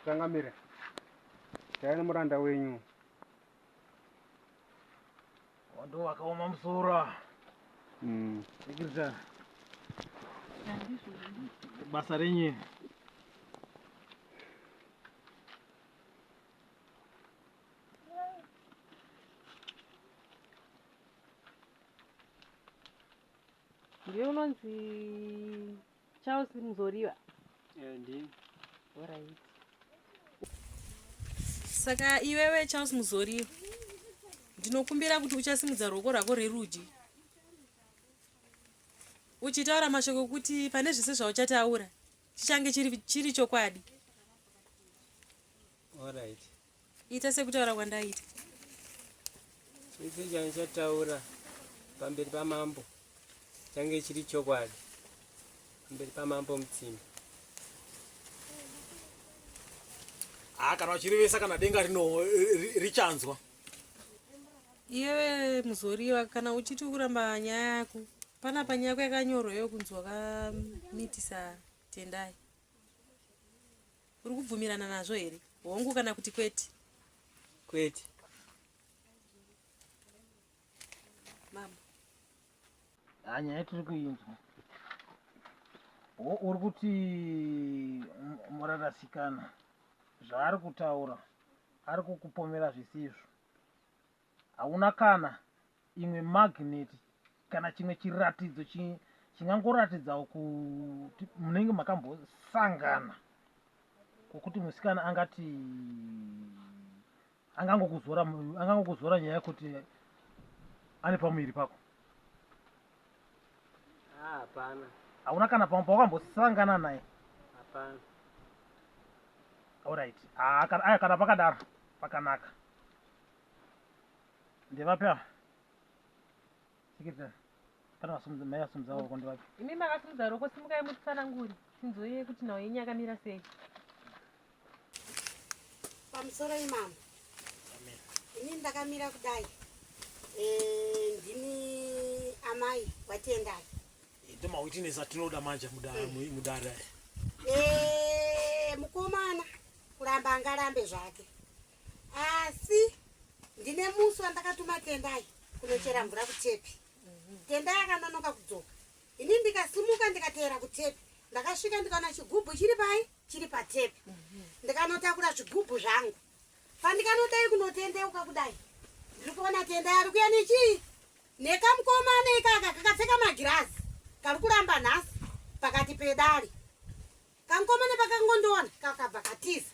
changamire chaive nemuranda wenyu Wando wakaoma musoro. Mm. Sekirita. Basa renyu. Ndiye unonzi Charles Muzoriwa. Eh, ndini. Alright. Saka iwewe Charles Muzoriwa ndinokumbira kuti uchasimudza ruoko rwako rwerudyi uchitaura mashoko okuti pane zvese zvauchataura chichange chiri chokwadi. Alright. ita sekutaura kwandaita chese change chataura pamberi pamambo change chiri chokwadi pamberi pamambo mutsimbi haa ah, kana vachirevesa kana denga rino richanzwa iyewe muzoriva kana uchiti kuramba nyaya yako pana panyaya yako yakanyorwa yo kunzwa kamitisa tendai Uri kubvumirana nazvo here? Hongu kana kuti kwete? Kwete. Mama. Ha nyaya tiri kuinzwa. Uri kuti murarasikana zvaari kutaura ari kukupomera zvisizvo. Hauna kana imwe magnet kana chimwe chiratidzo chingangoratidzawo kuti munenge makambosangana kwokuti musikana angati angangokuzora angangokuzora nyaya yekuti ane pamuviri pako ah, hapana hauna kana pamwe pawakambosangana naye hapana orit ah, aya kana pakadaro pakanaka Ndevapi ava? Sikirira. Kana vasumudza mai vasumudza ruoko ndevapi? Imi makasumudza ruoko simukai mutsanangure tinzwe kuti nhau yenyu yakamira sei. Pamusoro imambo. Ini ndakamira kudai. Eh ndini amai watendai. Eh, Ndoma witness atinoda manje mudara eh. mudara. Eh mukoma kuramba angarambe zvake asi ndine musi wandakatuma tendai kunochera mvura kutepi tendai akanonoka kudzoka ini ndikasimuka ndikateera kutepi ndakasvika ndikaona chigubhu chiri pai chiri patepi ndikanotakura zvigubhu zvangu pandikanotai kunotendeuka kudai ndiri kuona tendai ari kuya nechii nekamukomana ikaka kakapfeka magirazi kari kuramba nhasi pakati pedari kamukomana pakangondiona kakabva katiza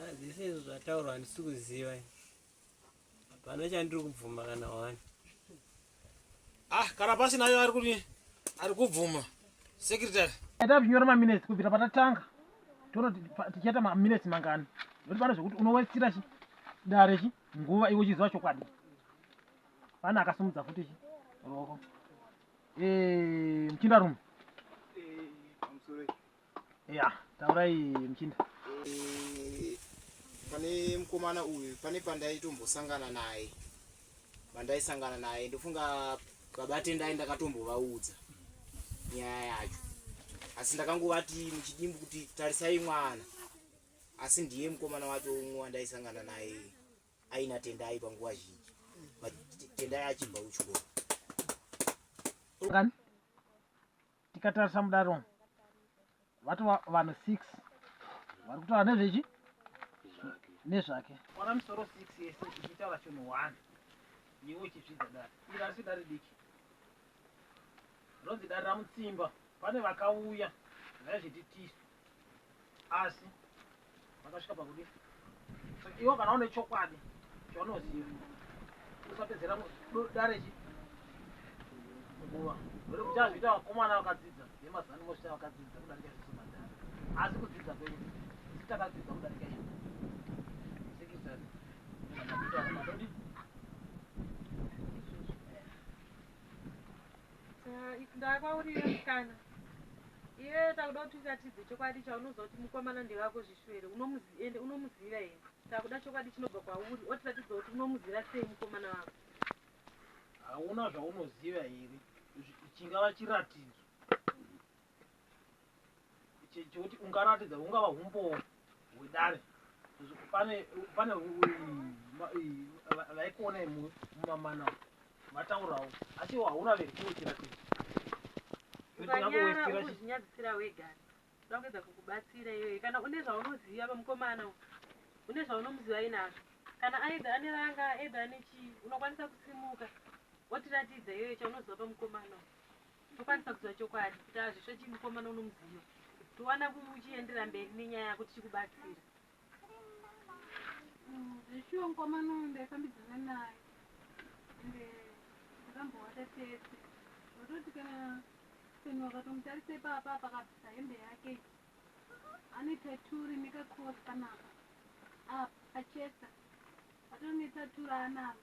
Ah, zvese izvo zvataurwa handisi kuziva hapana chandiri kubvuma kana wani ah kana pasina ayo ari kuti ari kubvuma secretary tavinyora maminutes kubvira patatanga tonoti tichaita maminutes mangani noti pane zvekuti unowestira chi dare chi nguva iwe uchiziva chokwadi pane akasimudza futi chi ruoko eh, muchindarume Yeah, taurai mchinda. Eh, pane mukomana uyu pane pandaitombosangana naye pandaisangana naye ndofunga baba tendai ndakatombovaudza nyaya yacho asi ndakangovati muchidimbu kuti tarisai mwana asi ndiye mukomana wacho umwe wandaisangana naye aina tendai panguva zhinji tendai achibva kuchikoro Tikatarisa mudare umu vatova vanhu six vari kutaura nezvechi nezvake ona misoro six yese ichitaura chinhu one iwe uchizvidza dare iri asi dare diki ronzi dare ramutsimba pane vakauya vaizviti tisu asi vakasvika pakudii so iwo kana une chokwadi chaunoziva usapedzera dare chi nguva uri kuti azviita vakomana vakadzidza vemazani mosvita vakadzidza kudarika isu madhara asi kudzidza kwenyu isi takadzidza kudarika inu sikisani Ndakwaurira mukana iye takuda kuti uratidze chokwadi chaunoziva kuti mukomana ndewako zvishu here ende unomuziva here takuda chokwadi chinobva kwauri otiratidza kuti unomuziva sei mukomana wako hauna zvaunoziva here chingava chiratidzo chekuti ungaratidza hungava humbowo hwedare pane pane vaikuona imwe mumamana vataurawo asi iwo hauna vekukuitira kuti ukanyarauzvinyadzisira wega da kuedza kukubatsira iyoyi kana une zvaunoziva pamukomana une zvaunomuziva inazvo kana aedha ane ranga aedha ane chii unokwanisa kusimuka wotiratidza iyoyo chaunoziva pamukomana tokwanisa kuziva chokwadi kuti hazvisvo chii mukomana unomuziva towana uchiendera mberi nenyaya yako tichikubatsira mm, zveshuwa mukomana uyu ndaifambidzana naye ende ndakambowata tese ndototi kana seni wakatomutarisa ipapa pakabvisa hembe yake ane taturi nekakos kanaka apa achesa atori netaturi anaro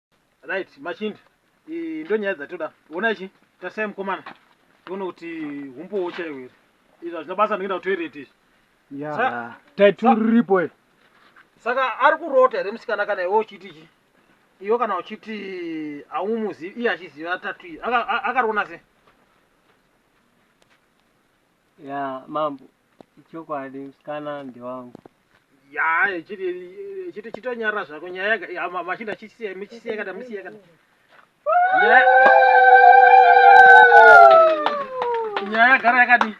Right, machindi iyi ndo nyaya dzatoda. Ona ichi, tarisai mukomana tione kuti humbowo chaiwo here. Izvi hazvina basa ndikuenda kutoilet izvi. Ya, Sa- type sa- riripo iri. Saka ari kurota here musikana kana iwe uchiti ichi? Iwe kana uchiti haumuzivi iye achiziva tatu iyi. Aka- a- Akariona sei? Ya, mambo. ichokwadi musikana ndewangu yaa chiti chiti chitonyarara zvako nyaya yaga ya- ma- machinda chisiye muchisiye kana musiye kana Nyaya- nyaya yagara yakadi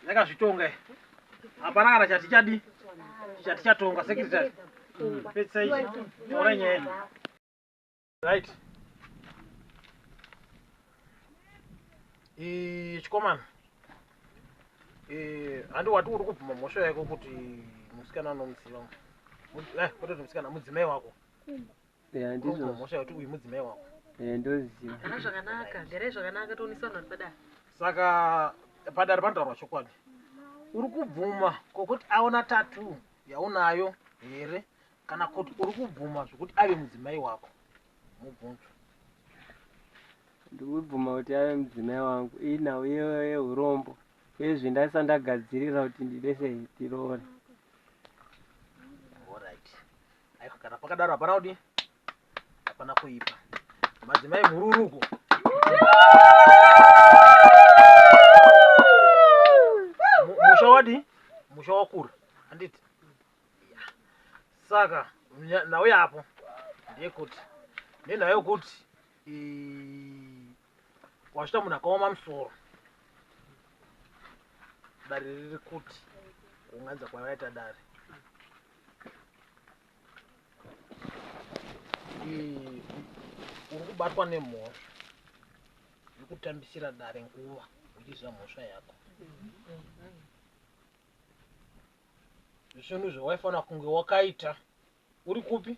yakazvitonga iyi. hapana kana chati chadi chati chatonga sekretary pedzisai taura nyaya right e, chikomana e, handi wati uri kubvuma mhosva yako kuti musikana anomuziva eh, kutoti musikana mudzimai wako mhosva yakuti uyu mudzimai wako ndoziva ah, zvakanaka garai zvakanaka toonisana padare saka padare panotaurwa chokwadi uri kubvuma kokuti aona tatu yaunayo here Kana kuti uri kubvuma zvekuti ave mudzimai wako mubvunzo. Ndikubvuma kuti ave mudzimai wangu iyi nhau yehurombo ezvi ndaisa ndagadzirira kuti ndide sei tiroore. Alright. Aiko kana pakadaro hapana kuti hapana kuipa. Madzimai mhururuko. Musha wadi? Musha wakura. Handiti? saka nhau yapo ndeyekuti nenhau yokuti wazvita munhu akaoma musoro dare riri kuti kunganza kwavaita dare uri kubatwa nemhosva yekutambisira dare nguva uchiziva mhosva yako mm -hmm. zvinhu zvawaifanira kunge wakaita uri kupi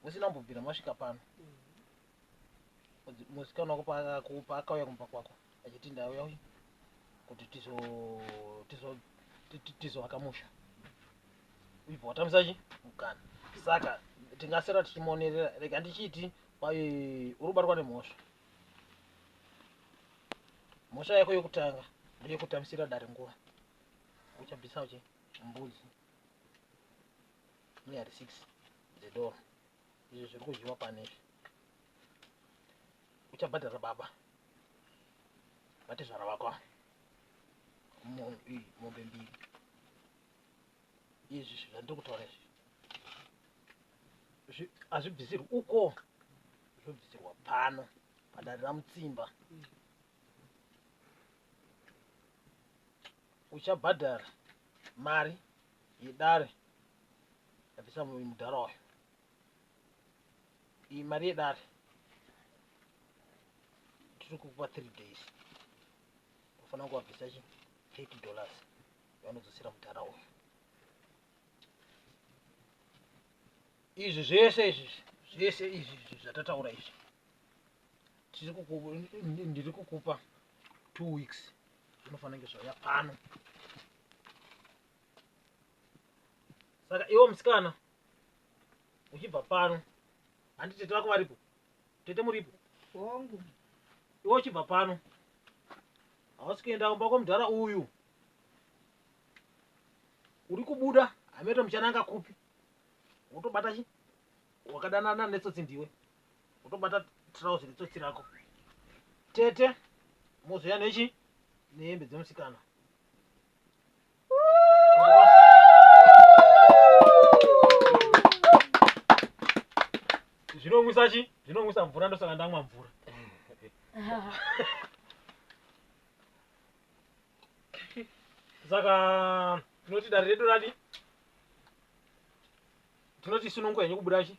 musina kumbobvira masvika pano musikana wako paakauya kumba kwako achiti ndauya uyu kuti tizoaka musha ibva watamisa chi mukana saka tingasera tichimonerera rega ndichiti uri kubatwa nemhosva mhosva yako yokutanga ndeyekutamisira dare nguva uchabvisawo che mbudzi nyari 6 dzedoro izvi zviri kudyiwa pano izvi uchabhadhara baba vatezvara vako ava mombe mbiri izvi zvandiri kutaura izvi hazvibvisirwi uko zvobvisirwa pano padare ramutsimba mm. uchabhadhara mari yedare yabvisa mudhara wayo iyi mari yedare tiri kukupa 3 days unofanira kuvabvisa chi 30 dollars vanodzosera mudhara uyu izvi zvese izvi zvese izvi izvi zvatataura izvi ndiri kukupa two weeks inofanira kunge zvauya pano saka iwo musikana uchibva pano handi tete vako varipo tete muripo hongu iwo uchibva pano hausi kuenda kumba kwamudhara uyu uri kubuda hameno muchananga kupi wotobata chi wakadanana netsotsi ndiwe Kutobata trouse ritsotsi rako. Tete mozouya nechi nehembe dzemusikana. Zvinomwisa chi? Zvinomwisa mvura ndosaka ndamwa mvura. Saka tinoti dare redu radi tinoti sununguka yenyu kubuda chi?